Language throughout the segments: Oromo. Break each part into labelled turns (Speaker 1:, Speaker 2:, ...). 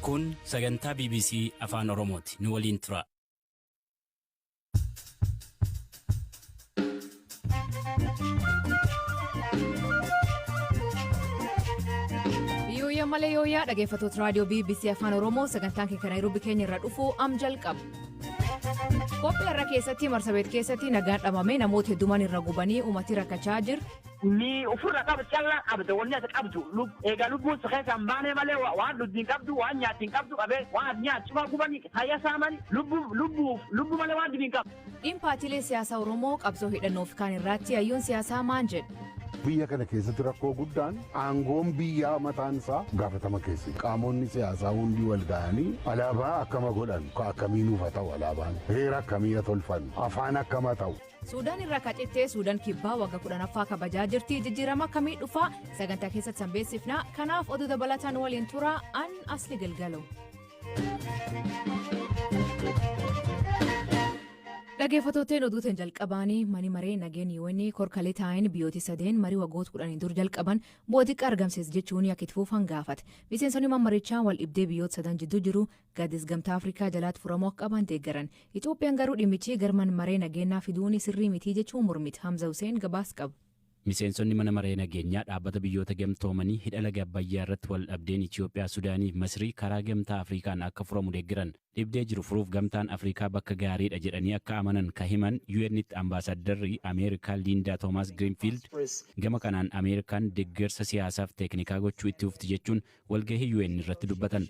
Speaker 1: Kun sagantaa BBC Afaan Oromooti. Nu waliin tura.
Speaker 2: Yooyyaa malee yooyyaa dhaggeeffattoota raadiyoo BBC Afaan Oromoo sagantaan keenya Naayiroobii keenya irraa dhufu am jalqaba. Qophii irra keessatti marsabeet keessatti nagaan dhabamee namoota heddumaan irra gubanii uummatii rakkachaa jiru. Mii ufirra
Speaker 3: qabu calla qabda wonni ati qabdu lub eega lubbuun si keessa hin baanee malee wa waan dhuddi hin qabdu waan nyaatti hin qabdu qabee waan ati nyaat cufaa gubani tayya saamani lubbu lubbuuf lubbu malee waan dhibi hin qabdu. Dhiin paatiilee siyaasaa
Speaker 2: Oromoo qabsoo hidhannoo fi kaan irraatti hayyoon siyaasaa maan jedhu? Biyya kana keessatti
Speaker 4: rakkoo guddaan aangoon biyyaa mataan isaa gaafatama keessa. Qaamonni siyaasaa hundi wal ga'anii alaabaa akkama godhan ka akkamii nuuf haa ta'u alaabaan heera akkamii haa tolfannu afaan akkama ta'u. Suudaan irraa kacittee
Speaker 2: Suudaan kibbaa wagga kudhanaffaa kabajaa jirti jijjiirama akkamii dhufaa sagantaa keessatti sanbeessifnaa kanaaf oduu dabalataan waliin turaa an asli galgalo. Dhaggeeffattootteen oduutiin jalqabaanii mani maree nageen yoonni korkalee taa'een biyyooti sadeen marii waggoota kudhanii dur jalqaban bu'aa xiqqaa argamsiisa jechuun akka itti fufan gaafate. Miseensonni mammarichaa wal dhibdee biyyoota sadan jidduu jiru Gaadis Gamtaa Afrikaa jalaatti furamuu akka qabaan deeggaran. Itoophiyaan garuu dhimmichii gar man maree nageennaa fiduuni sirrii mitii jechuun mormit. Hamza Hussein gabaas qaba. Miseensonni Mana
Speaker 1: Maree Nageenyaa Dhaabbata Biyyoota Gamtoomanii hidha laga Abbayyaa irratti wal dhabdeen Itiyoophiyaa, Sudaanii fi Masrii karaa Gamtaa Afriikaan akka furamu deeggaran. Dhibdee jiru furuuf Gamtaan Afriikaa bakka gaarii dha jedhanii akka amanan ka himan UN'tti Ambaasaaddarri Ameerikaa Liindaa Toomaas Giriinfiild gama kanaan Ameerikaan deggersa siyaasaaf teeknikaa gochuu itti fufti jechuun walgahii UN irratti dubbatan.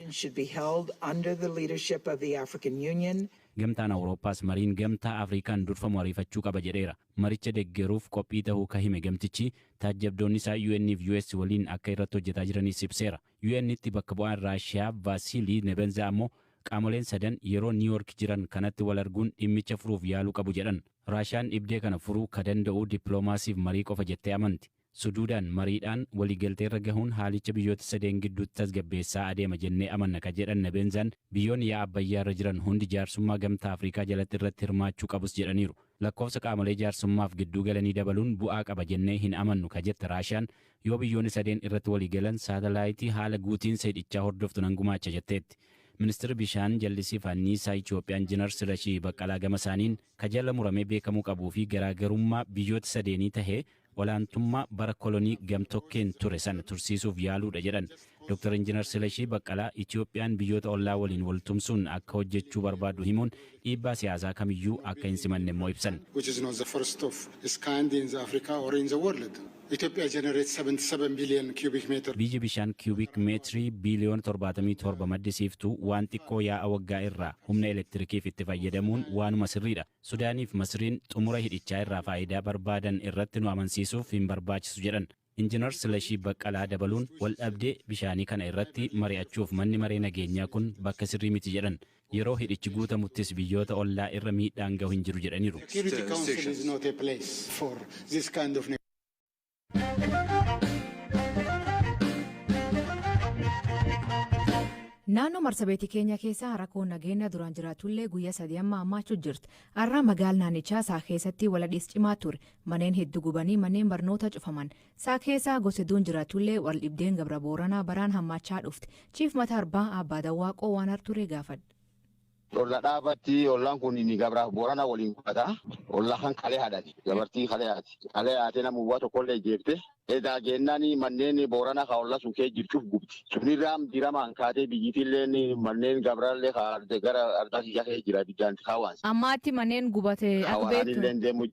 Speaker 1: Gamtaan Awurooppaas mariin Gamtaa Afriikaan durfamu ariifachuu qaba jedheera. Maricha deggeruuf qophii tahuu ka hime gamtichi, taajjabdoonni isaa UN fi US waliin akka irratti hojjetaa jiraniis ibseera. UNtti bakka bu'aan Raashiyaa Vaasiilii Nebenzaa ammoo qaamoleen sadan yeroo Niiwoork jiran kanatti wal arguun dhimmicha furuuf yaaluu qabu jedhan. Raashiyaan dhibdee kana furuu ka danda'u dippiloomaasiif marii qofa jettee amanti. Suduudaan mariidhaan waliigalteerra gahuun haalicha biyyoota sadeen gidduutti tasgabbeessaa adeema jennee amanna ka jedhan Nebenzan, biyyoonni yaa'a Abbayyaarra jiran hundi jaarsummaa Gamtaa Afrikaa jalatti irratti hirmaachuu qabus jedhaniiru. Lakkoofsa qaamolee jaarsummaaf gidduu galanii dabaluun bu'aa qaba jennee hin amannu ka jette Raashiyaan, yoo biyyoonni sadeen irratti waliigalan saatalaayitii haala guutiinsa hidhichaa hordoftu nan gumaacha jetteetti. Ministirri Bishaan, Jallisii fi Anniisaa Itiyoophiyaa Injinar Silashii Baqqalaa gamasaaniin, ka jala muramee beekamuu qabuu fi garaagarummaa biyyoota sadeenii tahee, olaantummaa bara kolonii gamtokkeen ture sana tursiisuuf yaaluudha jedhan Dr. Injinar Silashii Baqqalaa Itiyoophiyaan biyyoota ollaa waliin wal tumsuun akka hojjechuu barbaaddu himuun dhiibbaa siyaasaa kamiyyuu akka hin simanne immoo ibsan. which is not the first of its kind in the Africa or in the world. Ethiopia generates 77 billion cubic meter. Biyyi bishaan kiyuubik meetirii biiliyoona 77 maddisiiftu waan xiqqoo yaa'a waggaa irraa humna elektirikiif itti fayyadamuun waanuma sirriidha. Sudaanii fi Masriin xumura hidhichaa irraa faayidaa barbaadan irratti nu amansiisuuf hin barbaachisu jedhan Injinar Silashii Baqqalaa dabaluun waldhabdee bishaanii kana irratti mari'achuuf manni maree nageenyaa kun bakka sirrii miti jedhan. Yeroo hidhichi guutamuttis biyyoota ollaa irra miidhaan gahu hin jiru jedhaniiru.
Speaker 2: Naannoo marsabeetii keenya keessa rakkoo nageenya duraan jiraatullee guyyaa sadii amma hammaachuu jirti. Har'a magaal naannichaa isaa keessatti waladhiis cimaa ture. Manneen hedduu gubanii manneen barnoota cufaman. Isaa keessaa gosa hedduun jiraatullee wal dhibdeen gabra booranaa baraan hammaachaa dhufte. Chiif mata arbaa abbaa dawwaaqoo waan harturee gaafadha. Olla
Speaker 5: dhaabatti ollaan kun inni gabraaf boorana waliin qubata olla kan kalee haadhati gabartii kalee haati kalee haatee nama uwwaa tokkollee jeefte edaa geennaan manneen boorana ka olla sun kee jirchuuf gubti sunirraam diramaan kaatee biyyitilleen manneen gabraallee ka gara ardaa kiyyaa kee jira biddaan kaawaansa. Ammaatti manneen
Speaker 2: gubate akka beektu.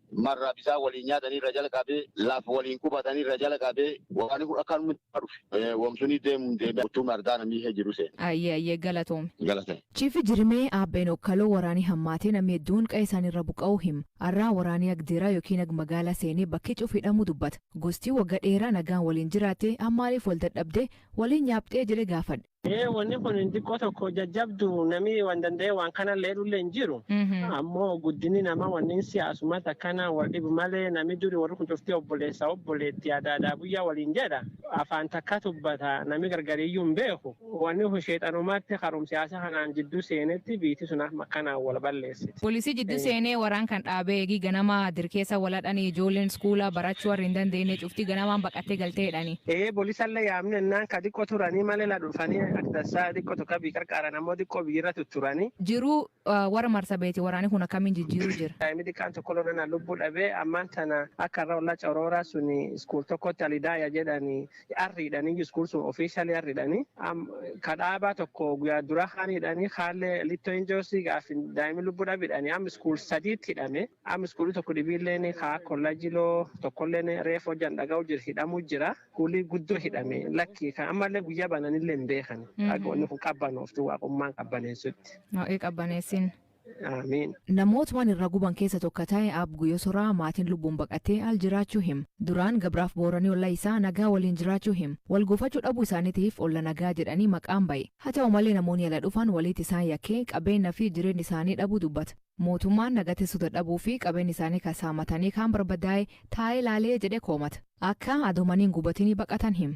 Speaker 5: marraa bisaan waliin nyaatanii irra jalqabee laf waliin qubatanii irra jalqabee waraanii kun akka nutti dhufe womsunii deemuun deemee uttuu mardaa namii hee jiru seene. Ayyee ayyee galatoomi.
Speaker 2: Galatoomi. Chiifi
Speaker 5: Jirimee
Speaker 2: Aabbeen Okkaloo waraanii hammaatee namii hedduun qa'ee isaanii irra buqa'uu hima. Arraa waraanii ag deeraa yookiin ag magaalaa seenee bakkii cuuf hidhamuu dubbata. Gostii wagga dheeraa nagaan waliin jiraattee ammaaliif wal dadhabdee waliin nyaapxee jedhee gaafadhe. Ee
Speaker 6: wanni kun xiqqoo tokko jajjabdu namni waan danda'e waan kana illee dhullee hin jiru. Ammoo guddinni nama wanni siyaasumatti akkana wal dhibu malee namni duri warri kun cufti obboleessa obboleetti aadaa aadaa buyyaa waliin jedha. Afaan takka tubbata namni gargariyyuu hin beeku. Wanni kun sheexanumatti karuma siyaasa kanaan jidduu seenetti biitti sun akkanaan wal balleessa. barreessiti. Polisi jiddu seene
Speaker 2: waraan kan dhaabe eegi ganama dir keessa wal hadhani ijoollen skuula barachu warri hin dandeenne cufti ganamaan baqatte galte jedhani. Ee polisalle yaamne
Speaker 6: ennaan ka diqqo turani male la dhufani ak dassa diqqo tokko bii qarqaaran ammo diqqo bii irra tutturani. Jiru
Speaker 2: warra marsabeeti waraani kun akkamiin jijjiiru jir. Daa'imi diqqaan tokko lolanaan
Speaker 6: lubbu dhabe ammaan tana akka arra olla coroora suni skuul tokkotti alidaya jedhani arridhani just kun sun officially arridhani am ka dhaabaa tokko guyaa dura kaan hidhani kaalle litto injoosi gaafi daa'imi lubbu dhabidhani am school sadiitti hidhame am school tokko dhibiilleeni kaa kollajiloo tokkolleen reef hojjan dhaga'u jira hidhamu jira kuulii guddoo hidhame lakki kan ammallee guyyaa bananillee hin beekani akka wanni kun qabbanooftu waaqummaan qabbaneessutti. Waaqii qabbaneessin.
Speaker 2: Aamiin.
Speaker 6: Namoot wan irra
Speaker 2: guban kessa tokka tae aab guyo soraa maatin lubbun baqate al jiraachu him duraan gabraf boorani olla isaa nagaa waliin jiraachu him wal gofachu dhabu isaanitif olla nagaa jedhani maqaan baye hatau male namoni ala dhufan waliit isaan yake qabeena fi jireen isaani dhabu dubbat mootumaan naga tesu dadhabu fi qabeen isaani ka saamatani kaan barbadae tae laale jedhe koomat akka ado mani hin gubatini baqatan him.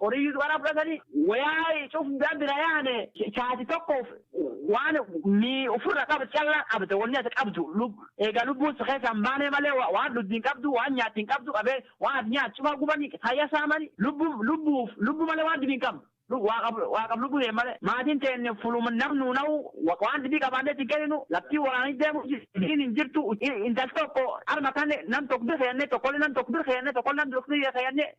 Speaker 3: Horii Yuusuf irraa fudhatanii woyaa cufndaa bira yaane, saati tokkoof waan mii ufirra qabd callaa qabda, wonni ati qabdu eegaa lubbuun si keessaa hin baanee malee waan dhuddi hin qabdu, waan nyaatti hin qabdu, qabee waan ati nyaattu cufaa gubanii, fayya saamanii, lubbuuf lubbu malee waan dhibi hin qabnu, waaqaf lubbu tee malee, maatiin teenna fuluma nam nuu nahu waan dhibii qabaannee itti hin kenninu, laftii woraanii deemu jirti, horiin hin jirtu, intal tokko arma kanne nam tokk bir keennee, tokkolle nam tokk bir keennee, tokkolle nam tokk bir keennee.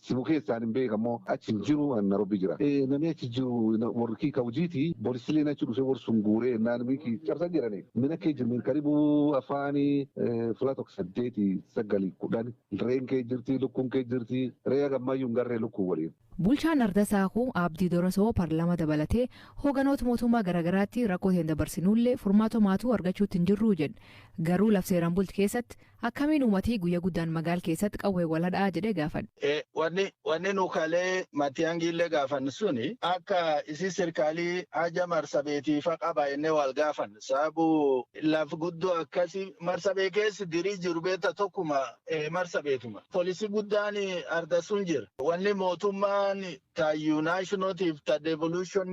Speaker 7: Simu kesa ani mbeka mo achi hin jiru ani narobi jira e nami achi jiru wor ki ka hujiti bolisilen achi dhufe wor sun gure nan miki cabsan jedhani mina ke jirni karibu afani fula tok sadeti sagali kudhani ren ke jirti lukun ke jirti re haga mayu hin garre luku wolin. Bulchaan Arda Saakuu
Speaker 2: Abdii Dorosoo parlama dabalatee hooganoota mootummaa garaagaraatti rakkoo teen dabarsinuullee furmaata homaatuu argachuutti hin jirruu jedhe. Garuu laf seeraan bulti keessatti Akkamiin umatii guyya guddaan magaal keessatti qawween wal hadhaa jedhee gaafadhe. Wanni wanni nu
Speaker 8: kalee matiyangiillee gaafann suni akka isii sirkaalii haja marsabeetii fa qaba jennee waal gaafann sababu laf guddoo akkasi marsabee keessa dirii jiru beetta tokkuma marsabeetuma polisi guddaan arda sun jira wanni mootummaan ta United tiif ta devolution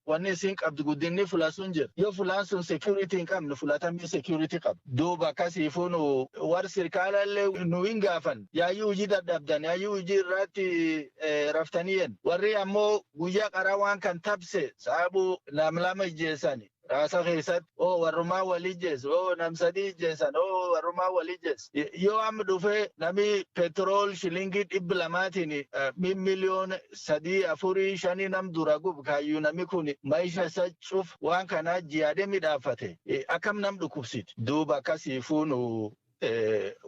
Speaker 8: wanni isiin qabdu guddinni fula sun jira. Yoo fulaan sun security hin qabne fulatamii security qaba. Duuba akkasiifuu nu warri sirkaala illee nu hin gaafan yaayyuu hojii dadhabdan yaayyuu hojii irraatti raftanii yen. Warri ammoo guyyaa qaraa waan kan tabse saabuu nam lama ijjeessani. Raasa keessatti oo warrumaa wal ijjeessu oo nam sadii ijjeessan oo warrumaa wal ijjeessu. Yoo amma dhufee nami petrol shilingii dhibbi lamaatiin min miliyoon sadii afurii shanii nam dura gub kaayyuu nami kun maisha isa cuf waan kanaa jiyaadee midhaafate akkam nam dhukkubsiti duuba akkasii fuunu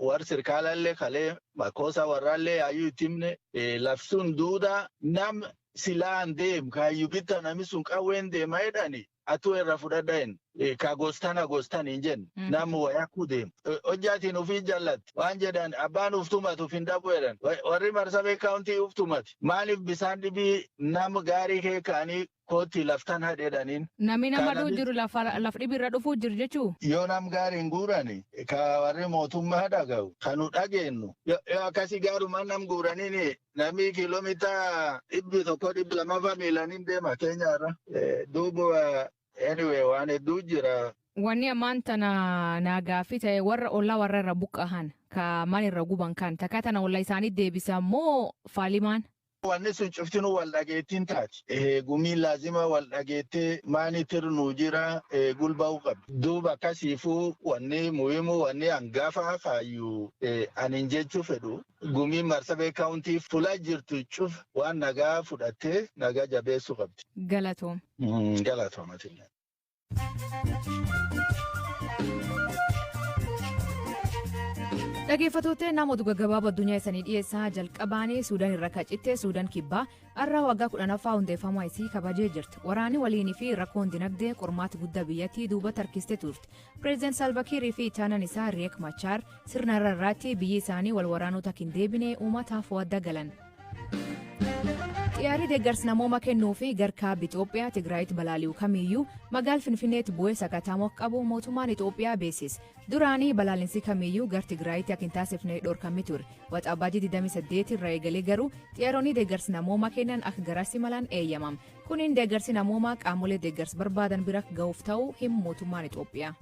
Speaker 8: warri sirkaalaallee kalee makkoosaa warraallee yaayyuu itti himne labsuun duudaa nam silaan deem kaayyu bitta nami sun qawween deema jedhani atuu irra fudhadha hin ka gostana gostan hin jennu nam wayakuu deem hojjaatiin ofii jallatti waan jedhan abbaan uftumatu fin dhabu jedhan warri marsabee kaawuntii uftumati maaliif bisaan dhibii nam gaarii kee kaanii Koottii laf tan hadhi jedhaniin. Nami nama duu jiru
Speaker 2: laf dhibi irra dhufuu jir jechuu? Yo nam gaari hin
Speaker 8: guurani, ka worri mootummaa dhagayu, ka nu dhageennu, yo akkasi gaarumaan nam guuraniini, nami kilomita dhibbi tokko dhibbi lamafa miilan hin deema Kenya irra. Duuba anyway waan hedduu jira. Wanni ammaan tana
Speaker 2: naa gaaffii ta'e warra ollaa warra irra buqqahan ka mana irra guban kan takka tana olla isaanii deebisan moo faalimaan Wanni
Speaker 8: sun cuftinuu wal dhageettiin taati. Gumiin laazima wal dhageettee maanitir nuu jira gulba'uu qabdi. Duuba akkasiifuu wanni muhimu wanni angafa kaayyu anin jechuu fedhu gumiin Marsabee County fula jirtu cufa waan nagaa fudhattee nagaa jabeessuu qabdi. Galatoomi.
Speaker 2: Galatoomi
Speaker 8: atillee.
Speaker 2: dhageeffattootee nama oduu gaggabaabaa addunyaa isanii dhiyeessaa jalqabaanii suudaan irra kacitte suudaan kibbaa har'a waggaa kudhanaffaa hundeeffamuu isii kabajee jirti waraanni waliinii fi rakkoon dinagdee qormaata guddaa biyyattii duuba tarkiste turte pireezidaant saalvakiirii fi ittaanaan isaa riyeek machaar sirna irra irraatti biyyi isaanii wal waraanota hin deebine uummataaf wadda galan Xiyyaarri deeggarsa namooma kennuu fi garkaabbi Itoophiyaa Tigraayitti balaali'u kamiyyuu magaal Finfinneetti bu'ee sakattaamu akka qabu mootummaan Itoophiyaa beeksise. Duraanii balaalinsi kamiyyuu gar Tigraayitti akka hin taasifne dhorkammi ture. Waxabajjii 28 irraa eegalee garuu xiyyaaronni deeggarsa namooma kennan akka garasi malan eeyyamam. Kuniin deeggarsi namoomaa qaamolee deeggarsa barbaadan bira ga'uuf ta'uu himu mootummaan Itoophiyaa.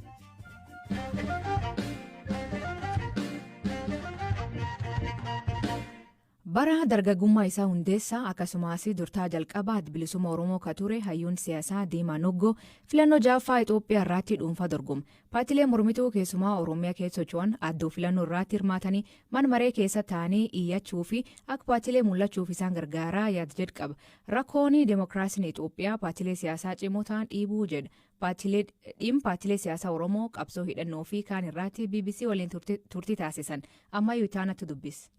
Speaker 2: Bara dargagummaa isaa hundeessaa akkasumaasi durtaa jalqabaa Addi Bilisumma Oromoo ka ture hayyuun siyasaa Diimaa Noggoo filannoo 6ffaa Itoophiyaa irraatti dhuunfaa dorgome. Paatilee mormituu keessumaa Oromia keessa socho'an addoo filannoo irraatti hirmaatanii man maree keessa taa'anii iyyachuu fi akka paatilee mullachuuf isaan gargaaraa yaad jedh qaba. Rakkooni demokraasiin Itoophiyaa paatilee siyaasaa cimoo ta'an dhiibuu jedha. Paatilee, Dhiim paatilee siyaasaa Oromoo qabsoo hidhannoo fi kaan irraati bbc waliin turti, turtii taasisan. Ammayu itaanatu dubbis.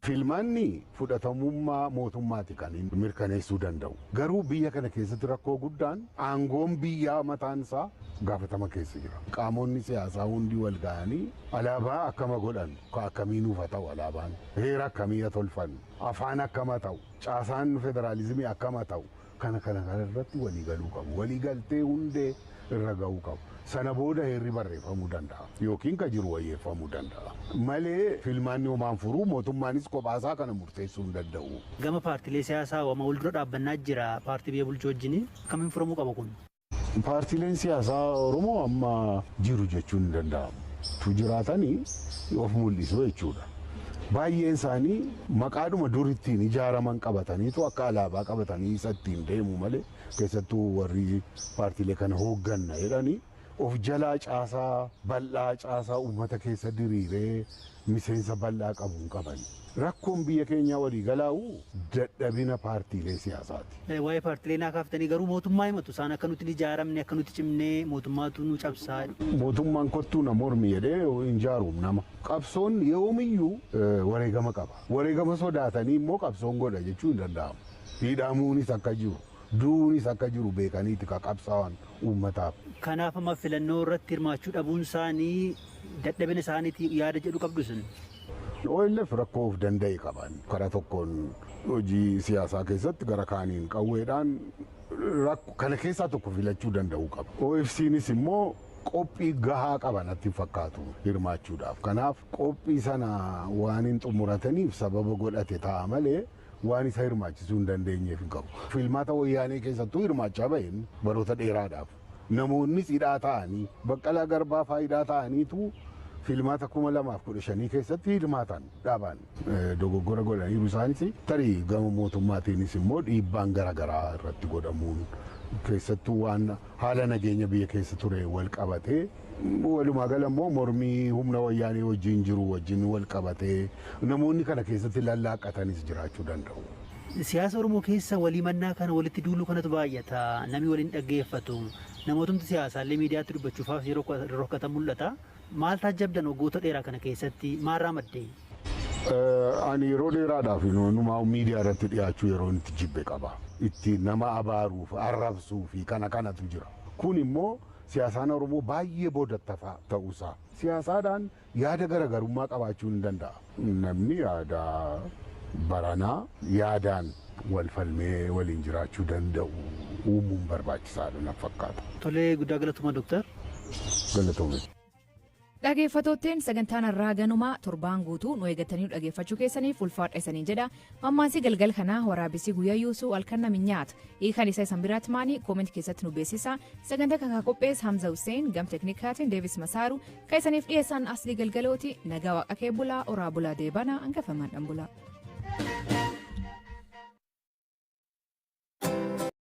Speaker 2: Filmaanni
Speaker 4: fudhatamummaa mootummaati kan inni mirkaneessuu danda'u. Garuu biyya kana keessatti rakkoo guddaan aangoon biyyaa mataan isaa gaafatama keessa jira. Qaamonni siyaasaa hundi wal ga'anii alaabaa akkama godhan, ka akkamii nuuf haa ta'u alaabaan, heera akkamii haa tolfannu, afaan akkam haa ta'u, caasaan federaalizimii akkam haa ta'u, kana kana kana irratti walii galuu qabu. Walii galtee hundee irra ga'uu qabu. Sana booda heerri barreeffamuu danda'a. Yookiin ka jiru wayyeeffamuu danda'a. Malee filmaanni homaan furuu mootummaanis kophaasaa kana murteessuu hin danda'u. Gama paartilee siyaasaa
Speaker 9: hoo amma wal dura dhaabbannaa jira paartii biyya bulchu wajjini akkamiin furamuu qaba kun? Paartiileen
Speaker 4: siyaasaa Oromoo amma jiru jechuun hin danda'amu. Utuu jiraatanii of mul'isu jechuudha. Baay'een isaanii maqaadhuma dur ittiin ijaaraman qabataniitu akka alaabaa qabatanii isa ittiin deemu malee keessattuu warri paartiilee kana hoogganna jedhanii of jalaa caasaa bal'aa caasaa uummata keessa diriiree miseensa bal'aa qabu hin qaban. Rakkoon biyya keenyaa waliigalaa'u dadhabina paartiilee siyaasaati. Waa'ee paartilee naa kaaftanii
Speaker 9: garuu mootummaa himatu. Isaan akka nuti hin ijaaramne, akka nuti cimnee mootummaatu nu cabsaa jedhu. Mootummaan kottuu
Speaker 4: na mormi jedhee hin jaaruum nama. Qabsoon yoomiyyuu wareegama qaba. Wareegama sodaatanii immoo qabsoon godha jechuun hin danda'amu. Hidhamuunis akka jiru, du'uunis akka jiru beekaniiti ka qabsaa'an uummataaf. Kanaaf amma
Speaker 9: filannoo irratti hirmaachuu dhabuun isaanii dadhabina isaaniitii yaada jedhu qabdu isin? ONLF
Speaker 4: rakkoo of danda'e qaba. Karaa tokkoon hojii siyaasaa keessatti gara kaaniin qawweedhaan rakko kana keessaa tokko filachuu danda'uu qaba. OFCnis immoo qophii gahaa qaba natti hin fakkaatu hirmaachuudhaaf. Kanaaf qophii sana waan hin xumurataniif sababa godhate ta'a malee waan isa hirmaachisuu hin dandeenyeef hin qabu. Filmaata Wayyaanee keessattuu hirmaachaa baheen baroota dheeraadhaaf namoonnis hidhaa taa'anii Baqqalaa Garbaa faa hidhaa taa'aniitu filmaata 2015 keessatti hirmaatan dhaabaan dogoggora godhaniiru isaanis tarii gama mootummaatiinis immoo dhiibbaan gara garaa irratti godhamuun keessattuu waan haala nageenya biyya keessa ture wal qabatee Walumaa gala immoo mormii humna wayyaanee wajjin jiru wajjin wal qabatee namoonni kana keessatti lallaaqqatanis jiraachuu danda'u. Siyaasa Oromoo
Speaker 9: keessa wal himannaa kana walitti duuluu kanatu baay'ata. Namni wal hin dhaggeeffatu. Namootumti siyaasaallee miidiyaatti dubbachuuf haafii rorrokatan mul'ata. Maal taajjabdan waggoota dheeraa kana keessatti? Maalraa madde?
Speaker 4: Ani yeroo dheeraadhaaf numaa miidiyaa irratti dhiyaachuu yeroon itti jibbe qaba. Itti nama abaaruuf, arrabsuu fi kana kanatu jira. Kun immoo siyaasaan Oromoo baay'ee boodattafaa ta'uu isaa. Siyaasaadhaan yaada garagarummaa qabaachuun ni danda'a. Namni yaada baranaa yaadaan wal falmee waliin jiraachuu danda'u uumuun barbaachisaadha natti fakkaata. Tolee guddaa galatoma
Speaker 9: Doktar. Galatoomi.
Speaker 2: Dhageeffattootteen sagantaan harraa ganumaa torbaan guutuu nu eegattanii nu dhageeffachuu keessaniif ulfaadha isanii jedha. Mammaansi galgal kanaa waraabessi guyyaa yuusuu halkan nami nyaata. Hiikan isa isan biraatti maanii kooment keessatti nu beeksisa. Sagantaa kan qophees Hamza Hussein gam teknikaatiin Deevis Masaaru kan isaniif dhiyeessan asli galgalooti nagaa waaqa kee bulaa oraa bulaa deebana hangafamaan dhan bulaa.